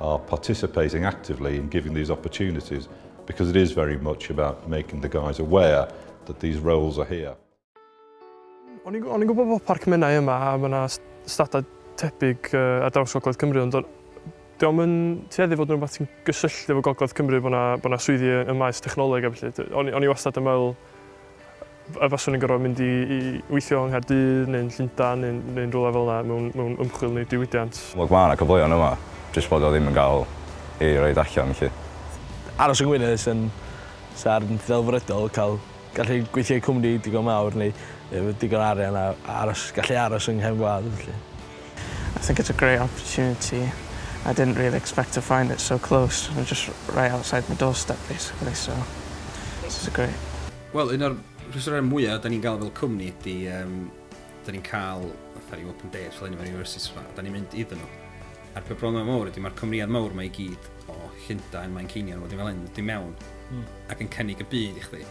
are participating actively in giving these opportunities because it is very much about making the guys aware that these roles are here. O'n i'n gwybod bod Parc Menai yma a mae yna stadau tebyg uh, ar draws Gogledd Cymru, ond diolch yn tueddu fod yn rhywbeth sy'n gysylltu efo Gogledd Cymru bod yna, bod yna swyddi ym maes technoleg a felly. O'n i wastad yn meddwl A faswn i'n gorfod mynd i weithio yng Nghaerdydd neu'n Llundain neu'n neu'n rywle fel yna mewn mewn ymchwil neu diwydiant. Look ma' 'na cyfleon yma, jyst bod o ddim yn ga'l ei roid allan 'lly. Aros yng Ngwynedd sy'n sy'n ddelfrydol ca'l gallu gweithio i cwmni digon mawr neu efo digon o arian a aros gallu aros yng nghefn gwlad felly. I think it's a great opportunity, I didn't really expect to find it so close, jyst right outside my doorstep basically so this is great. Wel, un o'r rhwystrau mwyaf da ni'n gael fel cwmni ydy, um, da ni'n cael, fatha rhyw open day, fel un o'r universities fa, da ni'n mynd iddyn nhw. A'r peth problem mawr ydy, mae'r cwmnïad mawr mae i gyd o Llundain, mae'n ceinion, wedyn fel hyn, dim mewn, mm. ac yn cynnig y byd i chdi.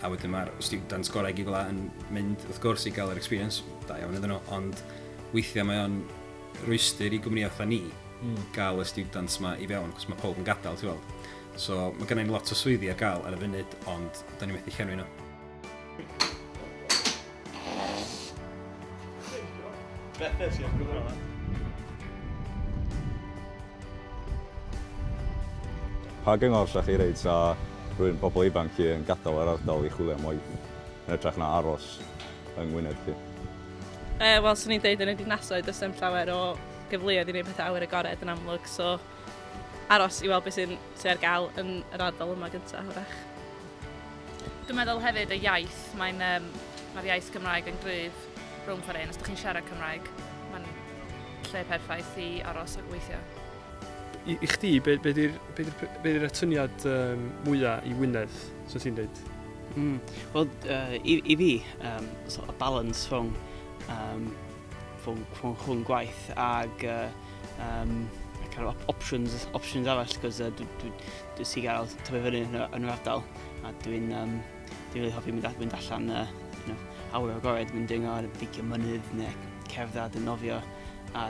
A wedyn mae'r students gorau gyd fel yn mynd, wrth gwrs, i gael yr experience, da iawn iddyn nhw, ond weithiau mae o'n rwystyr i gwmnïau fatha ni mm. gael y students yma i fewn, cos mae pob yn gadael, ti'n gweld. So, mae gennym ni lot o swyddi ar gael ar y funud, ond da ni methu llenwi nhw. Beth nes i'n gwybod yma? Pa gyngor lle chi reid sa rwy'n pobl ifanc chi yn gadael yr ardal i chwilio am waith yn edrych na aros yng Ngwynedd chi? E, Wel, swn i'n dweud yn y dinasoedd, does dim llawer o gyfleoedd i wneud pethau awyr agored yn amlwg, so aros i weld beth sy'n sy ar gael yn yr ardal yma gyntaf, hwyrach. Dwi'n meddwl hefyd y iaith, mae'n um, mae'r iaith Gymraeg yn gryf rhwng chwarae un. Os ydych chi'n siarad Cymraeg, mae'n lle perffaith i aros a gweithio. I, i chdi, be, be di'r be di, be di atyniad um, mwyaf i Wynedd, so ti'n dweud? Mm. Wel, uh, i, i fi, um, so, y balans rhwng um, fy nghwmn gwaith ac yym kind of options, options arall cos uh, dwi, dwi, dwi si gael tyfu fyny yn, yn yr ardal a dwi'n um, dwi really hoffi mynd, mynd allan uh, you know, awr o'r gored mynd dringo ar y beicio mynydd neu cerdded yn nofio a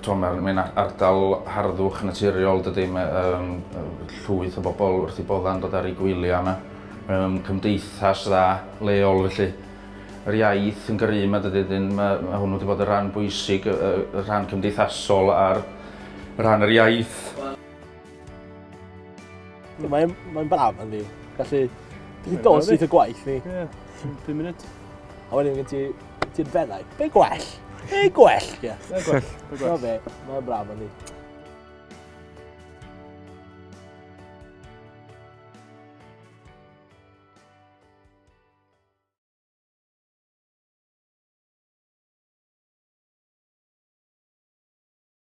T'o' ma' mae'n a- ardal harddwch naturiol dydi ma' yym yy llwyth o bobol wrth 'u bodda' yn dod ar eu gwylia 'ma. Mae o'n cymdeithas dda leol felly. Yr iaith yn gry 'ma dydi 'dyn ma' ma' hwnnw 'di bod y' ran bwysig yy yy y rhan cymdeithasol a'r rhan yr iaith. Mae'n mae braf yn fi. Gallu... Ti'n dod syth y gwaith ni. Ie, 5 munud. A wedyn gen ti... Ti'n benau. Be gwell? Be gwell? Ie. Be gwell? Be gwell? Be gwell? Mae'n braf yn fi.